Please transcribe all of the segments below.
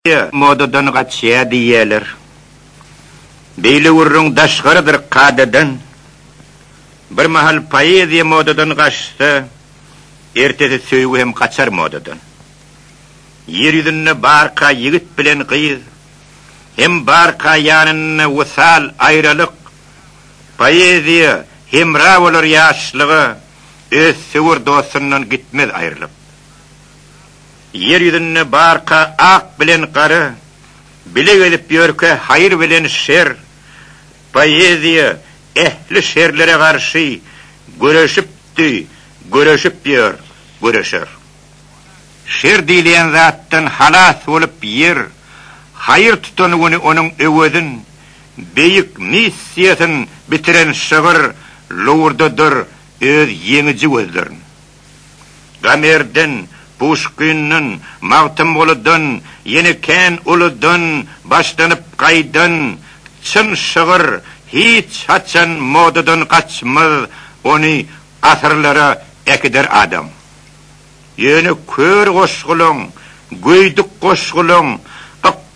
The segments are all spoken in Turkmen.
Ýa, modadan gaçýar diýýärler. Beýle gürrüň daşgarydyr kadadan. Bir mahal poeziýa modadan gaçsa, ertesi söýgi hem gaçar modadan. Ýer ýüzünde barka ýigit bilen gyz, hem barka ýanynda wysal, aýralyk. Poeziýa hemra bolar ýaşlyga, öz söwer dostundan gitmez aýrylyp. Ýer ýüzünde barka ak bilen gara bile gezip ýörkä haýyr bilen şer, poeziýa ähli şerlere garşy göreşipdi, göreşip ýör, göreşer. Şer diýilýän zatdan halas bolup ýer haýyr tutan güni onuň öwezin beýik missiýasyn bitiren şygyr lowurdadyr öz ýeňiji gözlerin. Gamerden, Puşkinden, Magtymgulydan, ýene kän uludan başlanyp gaýdan çyn şygyr hiç haçan modadan gaçmaz, ony asyrlara äkider adam. Ýöne kör goşgulaň, göýdük goşgulaň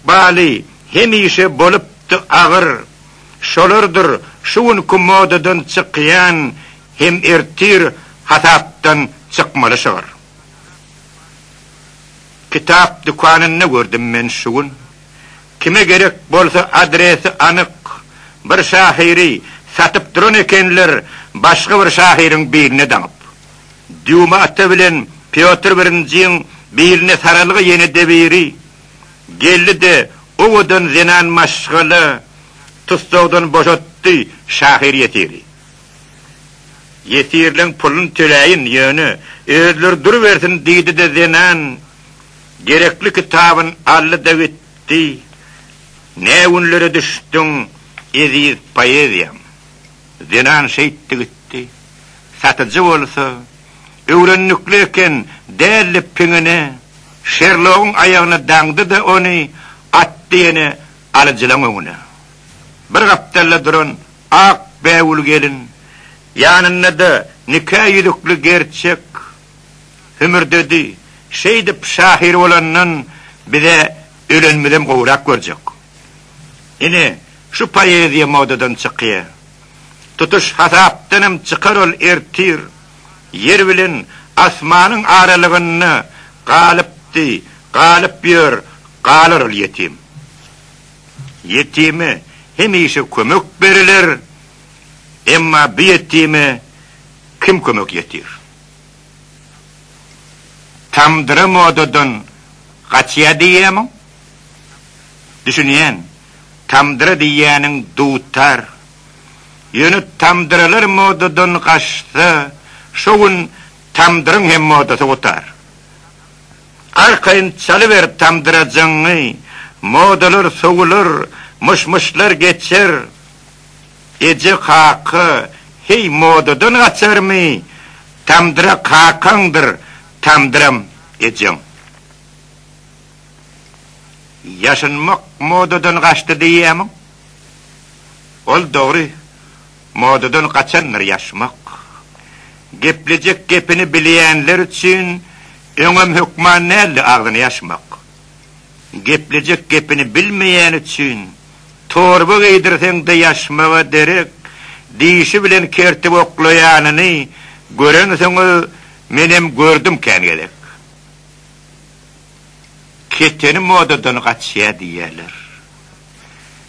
ykbaly hemişe bolupdy agyr. Şolardyr şu günki modadan çykýan Hem ertir hasapdan çykmaly şygyr. Kitap dükanynda gördüm men şu gün. Kime gerek bolsa adresi anyk bir şahyry satyp duran ekenler başga bir şahyryň biline daňyp. Dýuma ata bilen Pýotr birinjiň biline saralga ýene-de biri geldi-de owadan zenan maşgala tussagdan boşatdy şahyr-ýesiri. Ýesirleň pulun töläýin, ýöne özleri durubersin diýdi-de zenan gerekli kitabyn aldy-da gitdi. Nä günlere düşdüň, eziz poeziýam? Zenan şeýtdi gitdi. Satyjy bolsa, Öwrendikli eken, däldi piňine, Şerlogyň aýagyna daňdy-da ony, atdy ýene alyjylaň öňüne. Bir gapdalda duran Ak bägül gelin ýanynda-da nika ýüzükli gerçek, hümürdedi. Şeýdip, şahyr bolandan biz-ä ölenimizem gowrak görjek. Ine, şu poeziýa modadan çykýa. Tutuş hasapdanam çykar ol ertir. Ýer bilen asmanyň aralygynda galypdy, galyp ýör, galar ol ýetim. Ýetime hemişe kömek beriler, emma bu ýetime kim kömek ýetir? Tamdyra modadan gaçýar diýýärmiň? Düşünýän, tamdyra diýýäniň dutar. Ýöne tamdyralar modadan gaçsa, şo gün tamdyryň hem modasy gutar. Arkaýyn çalyber tamdyrajaňňy, Modalar sowular, myş-myşlar geçer. Eje kaka, heý modadan gaçarmy, Tamdyra kakaňdyr, tamdyram ejeň. Ýaşynmak modadan gaçdy diýýärmiň? Ol dogry. Modadan gaçandyr ýaşmak. Geplejek gepini bilýänler üçin öňem hökman däldi agzyny ýaşmak. Geplejek gepini bilmeýän üçin torba geýdirseň-de ýaşmaga derek, dişi bilen kertip oklaýanyny görensoň-a menem gördüm kän gezek. Keteni modadan gaçýar diýýärler.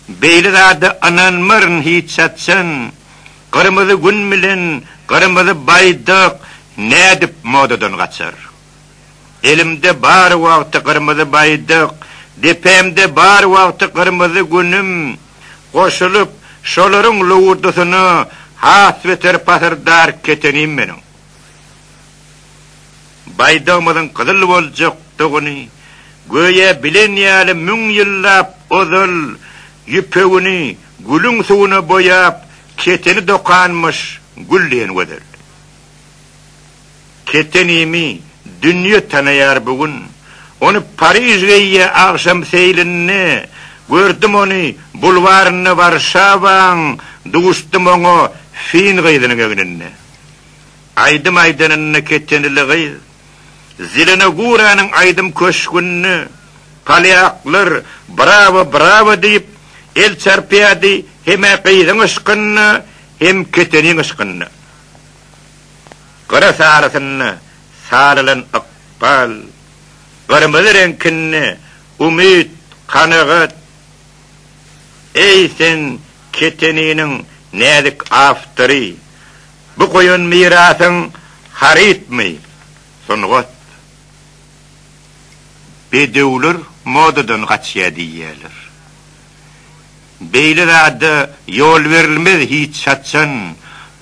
Beýle zada ynanmaryn hiç haçan. Gyrmyzy Gün bilen Gyrmyzy Baýdak nädip modadan gaçar? Elimde bar wagty Gyrmyzy Baýdak, depemde bar wagty Gyrmyzy Günüm goşulyp, şolaryň lowurdasyna has beter pasyrdar ketenim meniň. Baýdagymyzyň gyzyl boljakdygyny, göýä bilen ýaly müň ýyllap ozal ýüpegini gülüň suwuna boýap, keteni dokanmyş gül diýen gözel. Ketenimi dünýe tanaýar bu gün. Ony Pariž geýýä agşam seýlinde, gördüm ony bulwarynda Warşawaň, duşdum oňa fin gyzynyň egninde. Aýdym aýdanyny ketenili gyz Zelenoguranyň aýdym köşgünde polýaklar brawo, brawo diýip el çarpýardy hem-ä gyzyň yşkynda hem keteniň yşkynda. Gyra sarysynda salylan ykbal, gyrmyzy reňkinde umyt, kanagat. Eý sen keteniniň näzik awtory, Bu goýan mirasyň harytmy, sungat? Bedewler modadan gaçýar diýýärler. Beýle zada ýol berilmez hiç haçan,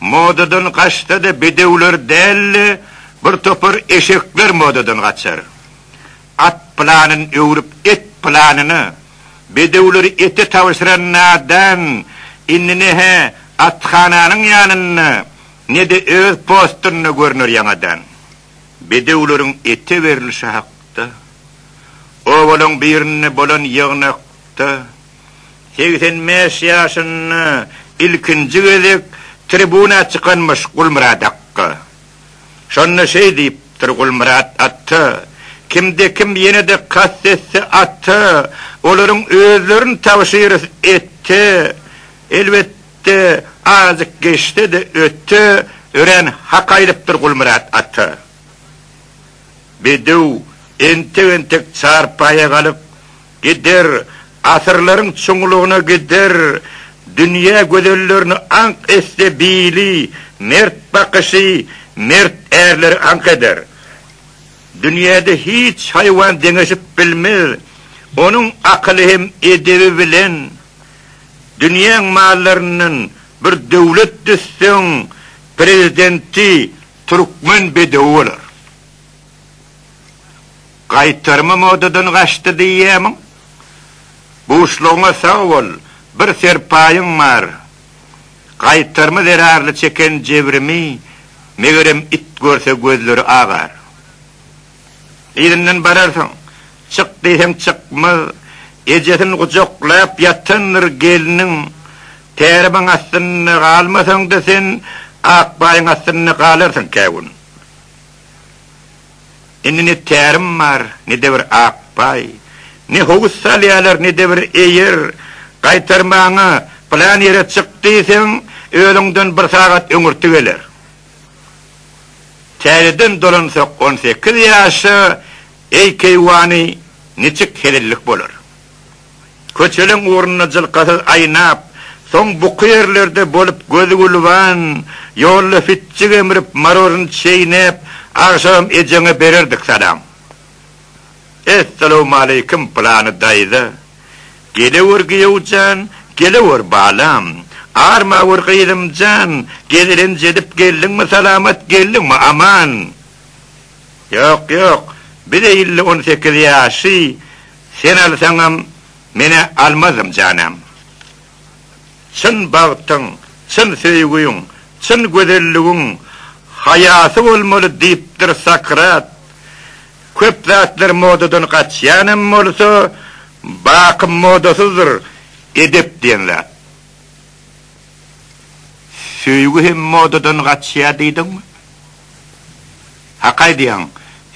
Modadan gaçsa-da bedewler däl-de, Bir topar eşekler modadan gaçar. At pylanyn öwrüp et pylanyny bedewleri ete tabşyran nadan indi ne-hä athananyň ýanynda ne-de öz postynda görner ýaňadan. Bedewleriň ete berlişi hakda obalaň birinde bolan ýygnakda segsen bäş ýaşynda ilkinji gezek tribuna çykanmyş Gulmyrat akga. Şonda şeý diýipdir, Gulmyrat ata, kimde-kim ýene-de kast etse ata, olaryň özlerini tabşyrys ete, elbetde, azjyk geçse-de öte, örän hak aýdypdyr Gulmyrat ata. Bedew entek-entek çarpaýa galyp, Gider, asyrlaryň çuňlugyna gider, Dünýä gözellerini aňk etse bili, Mert bakyşy mert ärleri aňk eder. Dünýäde hiç haýwan deňeşip bilmez, Onuň akyly hem edebi bilen. Dünýäň mallaryndan bir döwlet düzseň, Prezidenti türkmen bedewi bolar. Gaýtarymy modadan gaçdy diýýämiň? Buşlugyňa sag bol, bir serpaýyň bar. Gaýtarymy zerarly çeken jebrimi, megerem, it görse gözleri agar. Yzyndan bararsyň. Çyk diýseň çykmaz. Ejesini gujaklap ýatandyr gelniň. Täribiň astynda galmasaň-da sen, Akbaýyň astynda galarsyň kä gün. Indi ne tärim bar, ne-de bir ak paý. Ne howuz salýarlar, ne-de bir eýer. Gaýtarmagyňa, pylan ýere çyk diýseň, özüňden bir sagat öňürti geler. Täzeden dolansak on sekiz ýaşa, eý keýwany, niçik hezillik bolar. Köçeleň ugrunda jylkasyz aýnap, soň buky ýerlerde bolup gözi gülüban, ýolda fitjik emrip, maroryn çeýnäp, agşam ejeňe bererdik salam. Essalawmaleýkim, pylany daýza! Gelewür giýew jan, gelewür balam! Armawür gyzym jan, gezelenç edip geldiňmi salamat, geldiňmi aman? Ýok, ýok, biz-ä ille on sekiz ýaşy, Sen alsaňam, men-ä almazym janam. Çyn bagtyň, çyn söýgiň, çyn gözelligiň haýasy bolmaly diýipdir Sokrat. Köp zatlar modadan gaçýanam bolsa, baky modasyzdyr edep diýen zat. Söýgi hem modadan gaçýar diýdiňmi? Hak aýdýaň,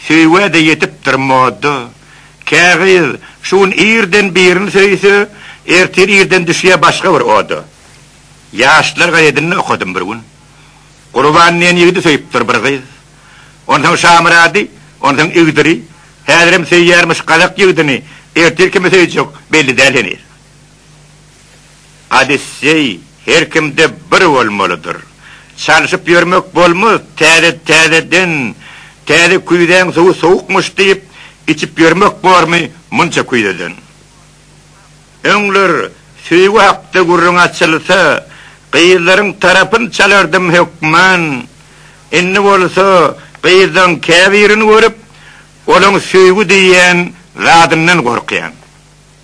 söýgä-de ýetipdir moda. Kä gyz şu gün irden birini söýse, ertir irden düşýär başga bir oda. Ýaşlar gazetinde okadym bir gün. Gurban diýen ýigidi söýüpdir bir gyz. Onsoň Şamyrady, onsoň Igdiri, häzirem söýýärmiş gazak ýigidini, ertir kimi söýjek, belli däl heniz. Odisseý her kimde bir bolmalydyr. Çalşyp ýörmek bolmaz, täze täzeden, täze küýzäň suwy sowukmyş diýip, içip ýörmek bormy munça küýzeden? Öňler söýgi hakda gürrüň açylsa, gyzlaryň tarapyn çalardym hökman, indi bolsa gyzlaň käbirini görüp, olaň söýgi diýýän zadyndan gorkýan.